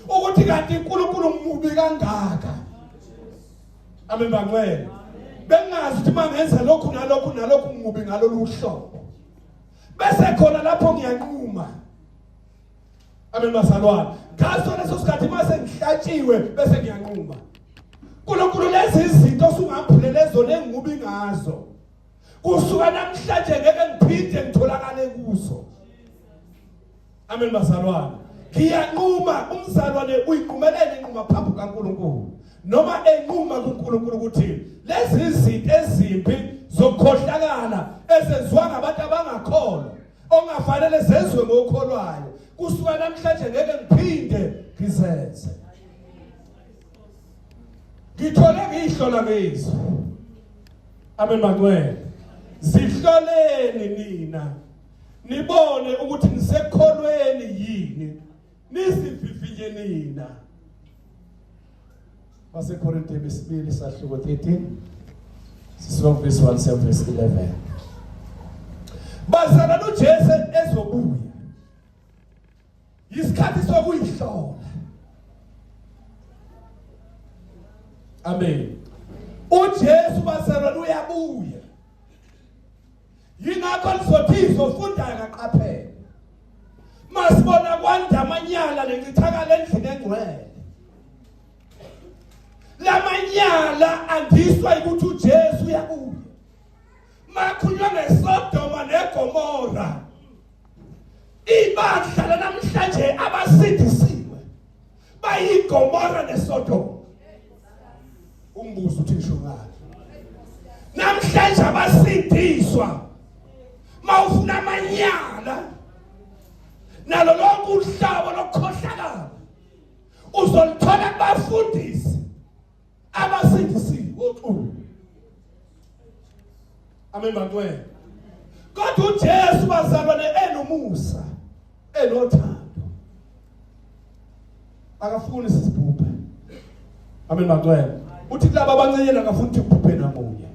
ukuthi kanti uNkulunkulu umubi kangaka amen bangcwele bengazi ukuthi mangenza lokhu nalokhu nalokhu umubi ngalolu hlobo bese khona lapho ngiyanquma amen bazalwane ngaso leso sikhathi mase ngihlatshiwe bese ngiyanquma uNkulunkulu lezi izinto osungamphulele zona engubi ngazo kusuka namhlanje ngeke ngiphinde ngitholakale kuzo Amen bazalwane. Ngiyanquma umzalwane uyiqumelele inquma phambi kaNkulunkulu. Noma enquma kuNkulunkulu ukuthi lezi zinto ezimbi zokukhohlakala ezenziwa ngabantu abangakholwa ongafanele zezwe ngokholwayo kusuka namhlanje ngeke ngiphinde ngizenze. Ngithole ngihlola ngizwe. Amen mangcwele. Zihloleni nina nibone ukuthi nisekholweni yini nisivivinye nina basekorinte besibili sahluko 13 sisuka kuvesi 1 siya kuvesi 11 bazana nojesu ezobuya yisikhathi sokuyihlola amen ujesu bazalwane uyabuya yingakho lizothi izofundayo kaqaphele masibona kwanda amanyala lencithakala endlini engcwele lamanyala andiswa ukuthi uJesu uyabuya makhulunywa ngesodoma negomora ibandla lanamhlanje abasindisiwe bayigomora nesodoma umbuzo uthi ngisho ngani namhlanje abasindiswa mawufuna amanyala nalo lonke uhlobo lokukhohlakala uzolithola kubafundisi abasindisiwe oxulu amen bantwana kodwa uJesu bazalwane enomusa enothando akafuni sisibhubhe amen bantwana uthi kulabo abancenyana akafuni ukuthi kubhubhe namunye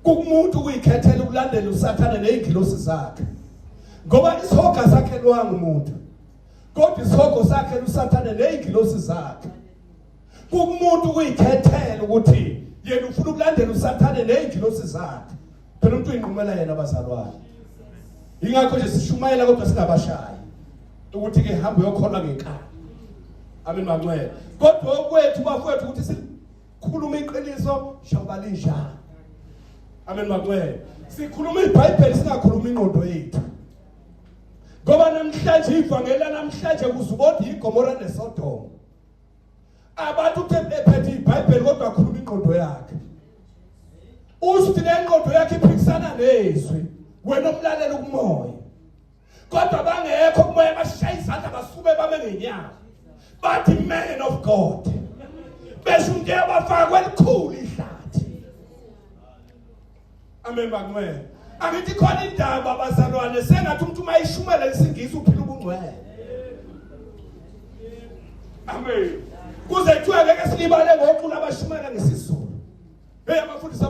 kukumuntu ukuyikhethela ukulandela usathane nezingilosi zakhe ngoba isihoga sakhe lwangumuntu kodwa isihogo sakhe lusathane nezingilosi zakhe kumuntu kuyikhethela ukuthi yena ufuna ukulandela usathane nezingilosi zakhe phela umuntu uyinqumela yena abazalwane ingakho nje sishumayela kodwa singabashayi ukuthi ke hamba uyokholwa ngenkani amen manxele kodwa okwethu bafowethu ukuthi sikhuluma iqiniso njengoba linjalo amen manxele sikhuluma ibhayibheli singakhuluma ingqondo yethu ngoba namhlanje ivangeli namhlanje kuzubodwa igomora nesodoma abantu uthe ephethe ibhayibheli kodwa akhuluma ingqondo yakhe usuthi le ngqondo yakhe iphikisana nezwi wena omlalela ukumoya kodwa bangekho kumoya bashaya izandla basukume bame ngenyawo bathi man of god besho into yabafakwe elikhulu ihlathi amen bangcwele angithi khona indaba bazalwane sengathi umuntu uma ishumela isingisi uphila ubungcwele amen kuze kuthiwa ngeke silibale ngoqula abashumela ngesizulu hey abafundisi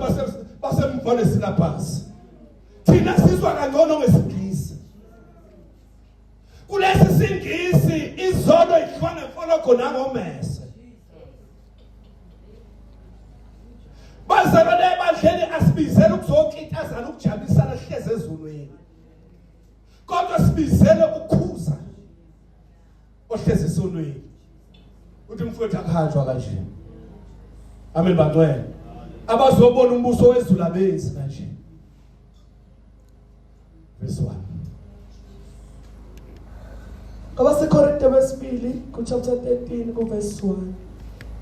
basemvane silabhasi thina sizwa kangcono ngesingisi kulesi singisi izono idliwa ngemfologo nangomese bazalwane ebandleni asibizele ukuzokitazana ukujabisana sihleze ezulwini kodwa sibizele ukukhuza ohlezi esonweni uthi mfowethu akuhanjwa kanje amen bangcwele abazobona umbuso wezulu abenzi kanje verse 1 abasekorinte besibili kuchapter 13 kuverse 1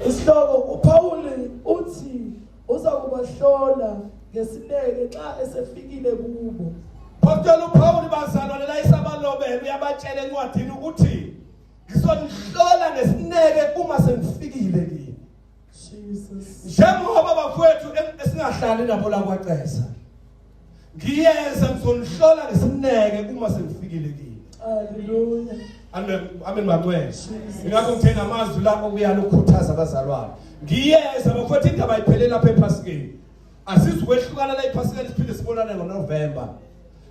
isihloko upawuli uthi uza kubahlola ngesineke xa esefikile kubo phokutshela upawuli bazalwa lelayisa abalobele uyabatshela encwadini ukuthi ngizonihlola ngesineke uma sengifikile kini njengoba bafowethu esingahlali nabo la kwacesa ngiyeza ngizonihlola ngesineke uma sengifikile kini haleluya amen amen bangcwele ingakho ngithe namazwi la okuyala ukukhuthaza abazalwane ngiyeza bafowethu indaba ayiphelele lapha ephasikeni Asizukwehlukana la iPhasikeni siphinde sibonane ngoNovember.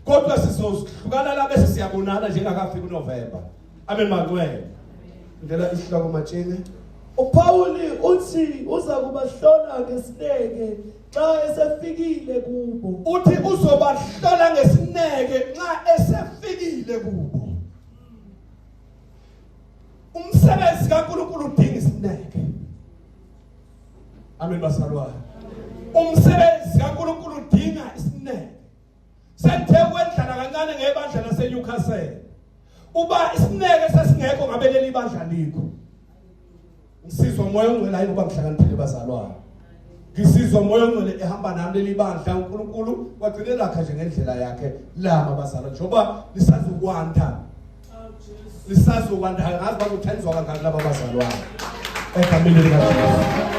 Kodwa sizohlukana la bese siyabonana njengakafika uNovember. Amen mangcwele. Ngicela isihloko matshini. UPawuli uthi uza kubahlola ngesineke xa esefikile kubo. Uthi uzobahlola ngesineke nxa esefikile kubo. Umsebenzi kaNkulunkulu udinga isineke. Amen basalwane. Umsebenzi kaNkuluNkulu udinga isineke. Senthe kwendlala kancane ngebandla laseNewcastle. Uba isineke sesingekho ngabe leli bandla likho. Ngisizwa umoya ongcwele hayi ngoba ngihlakaniphile bazalwane. Ngisizwa umoya ongcwele ehamba nami leli bandla uNkulunkulu wagcine lakha nje ngendlela yakhe lama bazalwane. Njengoba lisazokwanda lisazokwanda angazi bazothandizwa kangaki laba bazalwane egameni likaJesu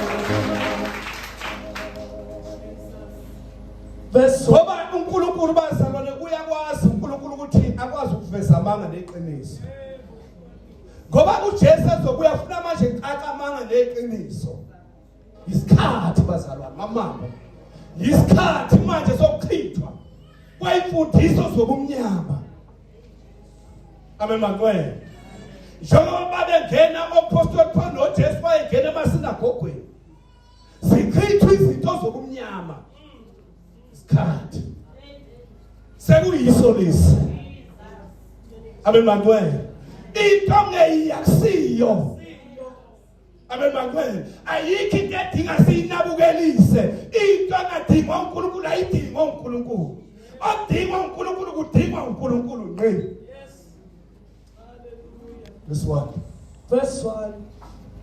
verse ngoba uNkulunkulu bazalwane uyakwazi uNkulunkulu ukuthi akwazi ukuveza amanga neqiniso ngoba uJesu azobuya funa manje caca amanga neqiniso isikhathi bazalwane ngamanga isikhathi manje sokuchithwa kwayimfundiso zobumnyama amen makwena njengoba bengena ophostoli Paul noJesu bayengena emasinagogweni zichithwa izinto zobumnyama isikhathi sekuyiso lesi amen makwena into ngeyiyakusiyo abebakwenu ayikho into edinga siyinabukelise into angadingwa uNkulunkulu ayidingwa uNkulunkulu odingwa uNkulunkulu kudingwa uNkulunkulu ngqi this one verse 1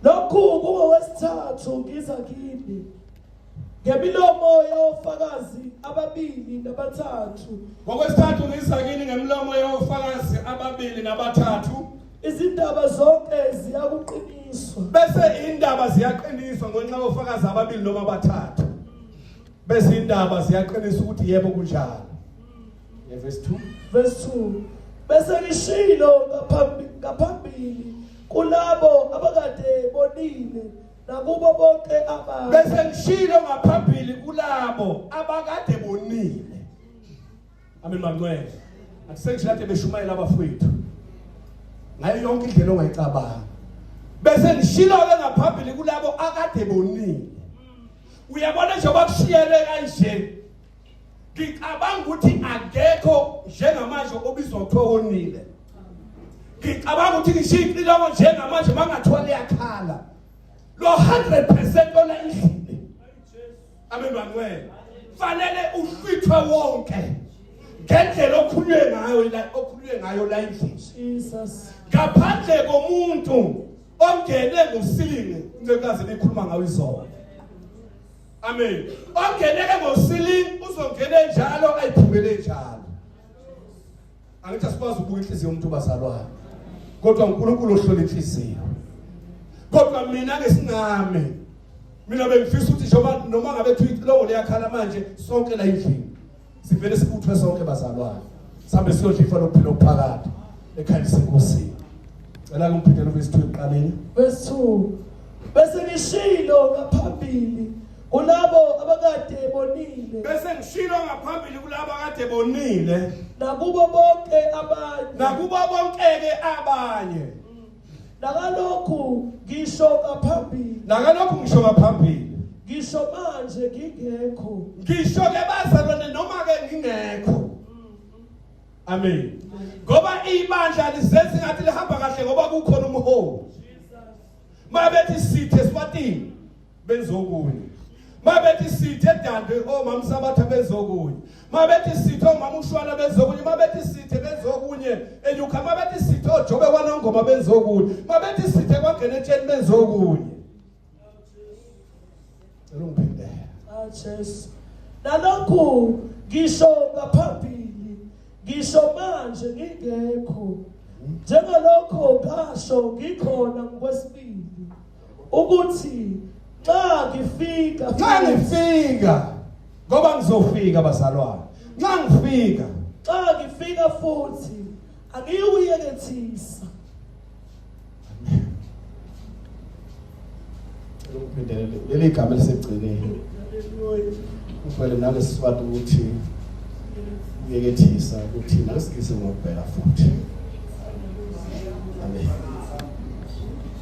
lokhu kungowesithathu ngiza kini ngemilomo yofakazi ababili nabathathu ngokwesithathu ngiza kini ngemilomo yofakazi ababili nabathathu izindaba zonke ziyakuqiniswa bese indaba ziyaqiniswa ngenxa yofakazi ababili noma abathathu bese indaba ziyaqinisa ukuthi yebo kunjalo yeah, verse 2 verse 2 bese ngishilo ngaphambili ngaphambili kulabo abakade bonile nakubo bonke abantu bese ngishilo ngaphambili kulabo abakade bonile Amen mancwele. Akusenje kade beshumayela abafowethu. Ngayo yonke indlela ongayicabanga. Bese ngishilo ke ngaphambili kulabo akade bonile. Uyabona nje bakushiyele kanje. Ngicabanga ukuthi akekho njengamanje obizwa kuthiwa wonile. Ngicabanga ukuthi ngishiye icilongo njengamanje mangathiwa liyakhala. Lo 100% ona inhliziyo amen bangcwele fanele uhlwithwe wonke ngendlela okhulunywe ngayo la okhulunywe ngayo la endlini Jesus ngaphandle komuntu ongene ngosilinge ncekazi likhuluma ngayo izolo amen ongeneke ngosilinge uzongena njalo ayiphumele njalo angithi asikwazi ukubuka inhliziyo yomuntu obazalwayo kodwa uNkulunkulu ohlola inhliziyo kodwa mina ke singame mina bengifisa ukuthi njengoba noma ngabe thi lowo leyakhala manje sonke la endlini sivele sibuthwe sonke bazalwane sambe siyodla ifa lokuphila okuphakade ekhaya senkosini cela kumphindela ubesithu eqaleni bese bese ngishilo ngaphambili kulabo abakade bonile bese ngishilo ngaphambili kulabo akade bonile nakubo bonke abanye nakubo bonke-ke abanye nakalokhu ngisho ngaphambili nakalokhu ngisho ngaphambili ngisho manje ngingekho ngisho-ke bazalwane noma-ke ngingekho amen ngoba ibandla lizenza ingathi lihamba kahle ngoba kukhona umholi uma bethi sithe eswatini benzokunye mabethi sithe dande omama sabatha benzokunye mabethi sithe omama ushwana benzokunye mabethi sithe benzokunye enyuka mabethi sithe ojobe kwanongoma benzokunye mabethi sithe kwangena etsheni benzokunye cela ungiphindele ah jesu nalokhu ngisho ngaphambili ngisho manje ngingekho njengalokho ngasho ngikhona ngokwesibili ukuthi nxa ngifika nxa ngifika ngoba ngizofika bazalwane nxa ngifika nxa ngifika futhi angiyuyekethisa leli gama elisekugcineni uvele nake siswati ukuthi uyekethisa ukuthi nakesigisi ngokubhela futhi amen